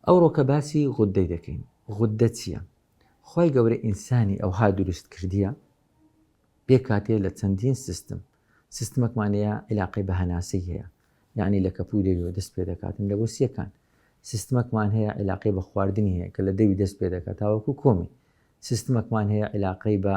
ئەوڕۆ کە باسی غوددەی دەکەین غوددە چیە؟ خوای گەورە ئینسانی ئەوها دروست کردیە پێکهاتەیە لە چەندین سیستم سیستمەکمان هەیە عیلاقەی بە هەناسەی هەیە یانی لە کەپوی دەویەوە دەست پێ دەکاتن لە برسیەکان سیستمەکمان هەیە عیلاقەی بە خواردنی هەیە کە لە دەوی دەست پێ دەکات تاوەکو کۆمی سیستمەکمان هەیە عیلاقەی بە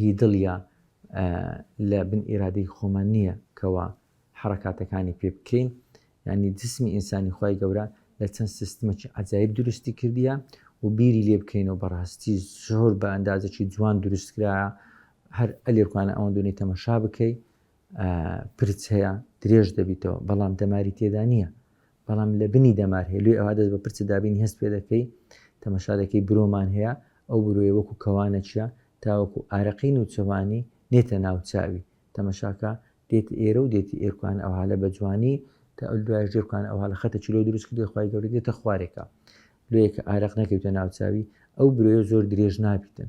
هی دڵیە لە بن ئیرادەی خۆمان نیە کەوا حەڕەکاتەکانی پێ بکەین یانی جسمی ئینسانی خوای گەورە لە چەند سیستمەکی عەجایب دروستی کردیە و بیری لێ بکەینەوە بەڕاستی زۆر بە ئەندازەکی جوان دروست کرایە هەر ئەلێکوانە ئەوەن دونی تەمەشا بکەی پرچەیە درێژ دەبیتەوە بەڵام دەماری تێدا نییە بەڵام لە بنی دەمار هەیە لۆی ئەوا دەست بە پرچە دابینی هەست پێ دەکەی تەمەشا دەکەی برۆمان هەیە ئەو برۆیە وەکو کەوانە چیا تاوەکو ئارەقەی نوچەوانی نێتە ناو چاوی تەمەشاکە دێت ئێرە و دێتی ئێرکوان ئەوها لە بەجوانی تا ئەو دوایش دێرکوان ئەوها لە خەتە چلۆ دروست کردی خوای گەوری دێتە خوارێکە لۆیەکە ئارەق نەکەوتە ناو چاوی ئەو برۆیە زۆر درێژ نابیتن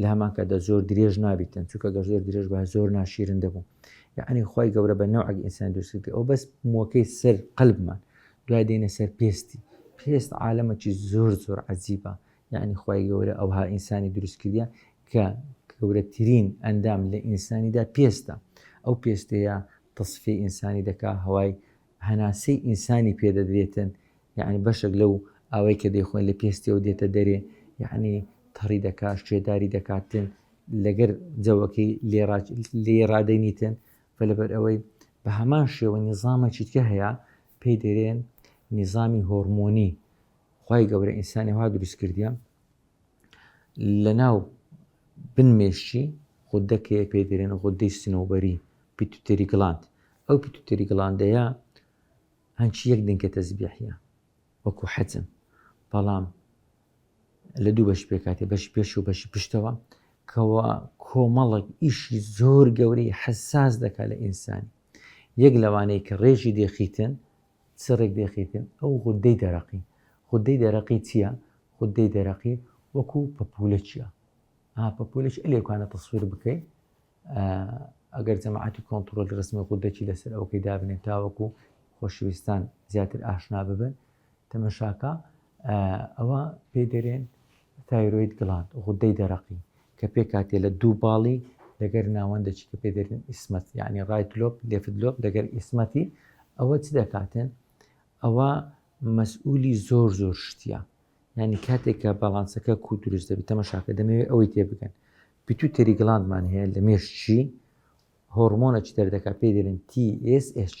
لە هەمان کاتدا زۆر درێژ نابیتن چونکە گەر زۆر درێژ بە زۆر ناشیرن دەبوو یعنی خی گەورە بە نەوەک ئینسان دووسکە ئەو بەس موەکەی سەر قەلبمان دوای دێنە سەر پێستی پێست عالەمەکی زۆر زۆر عجیبە یعنی خی گەورە ئەوها ئینسانی دروست کردە کە گەورەترین ئەندام لە ئینسانیدا پێستە ئەو پێستەیە تصفی ئینسانی دەکا هەوای هەناسەی ئینسانی پێ دەدرێتن یەعنی بەشەک لەو ئاوەی کە دەیخۆن لە پێستیەوە دێتە دەرێ یەعنی تەڕی دەکات شێداری دەکاتن لەگەر جەوەکەی لێ ڕادەینیتن و لەبەر ئەوەی بە هەمان شێوە نیزامە چیتکە هەیە پێی دەرێن نیزامی هۆرمۆنی خی گەورە ئینسانی وا دروست کردیان لە ناو بن مێشکی غوددەکەیە پێی دەرێن غوددەی سنەوبەری پیتوتێری گڵاند ئەو پیتوتێری گڵاندەیە هەنچی یەک دنکە تەزبیحە وەکو حەجم بەڵام لە دوو بەش پێکاتێ بەش پێش و بەشی پشتەوە کەوا کۆمەڵک ئیشی زۆر گەورەی حساس دەکات لە ئینسانی یەک لەوانەیە کە ڕێژی دێخیتن چ ڕێکدێخێکن ئەو غودەی دەرەقی؟ غودەی دەرەقی چیە؟ غودەی دەرەقی وەکو پەپولەکیە ها پەپولەکی ئەلێ کانە تەسویر بکەی ئەگەر جەماعەتی کۆنتترۆل ڕسمی غودەکی لەسەر ئەوکەی دابنێن تاوەکو خۆشویستان زیاتر ئاشنا ببن تەمەشاکە ئەوە پێی دەرێن تایرۆید گڵاند غودەی دەرەقی کە پێکاتێ لە دوو باڵی لەگەر ناوەندەچی کە پێ دەرێن ئیسمەت یعنی ڕایت لۆپ لێفت لۆپ لەگەر ئیسمەتی ئەوە چ دەکاتن ئەوە مەسئولی زۆر زۆر شتە ینی کاتێکە باڵانسەکە کو دروست دەبێت تەمەشاکە دەمەوێت ئەوەی تێ بگەن پیتو تێری گڵاندمان هەیە لە مێشتشی هۆرمۆنە چ دەردەکە پێ دەرێن TSH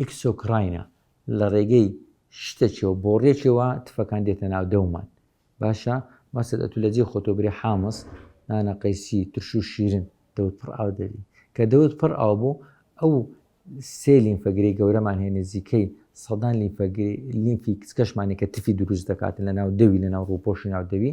ئیکسۆکڕاینە لەڕێگەی شتەکیەوە بۆڕیەکیەوە تفەکان دێتە ناو دەومان باشە مەسەد ئەتو لەجێ خۆتۆ برێ حامس نانە قەیسی ترش و شیرن دەوت پڕ ئاو دەبی کە دەوت پڕ ئاو بوو ئەو سێ لیمفەگرەی گەورەمان هەیە نزیکەی سەدان لیمفەگری لیمفی کچکەشمانی کە تفی دروست دەکاتن لە ناو دەوی لە ناو ڕووپۆشی ناو دەوی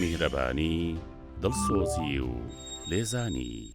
میهرەبانی، دڵسۆزی و لێزانی.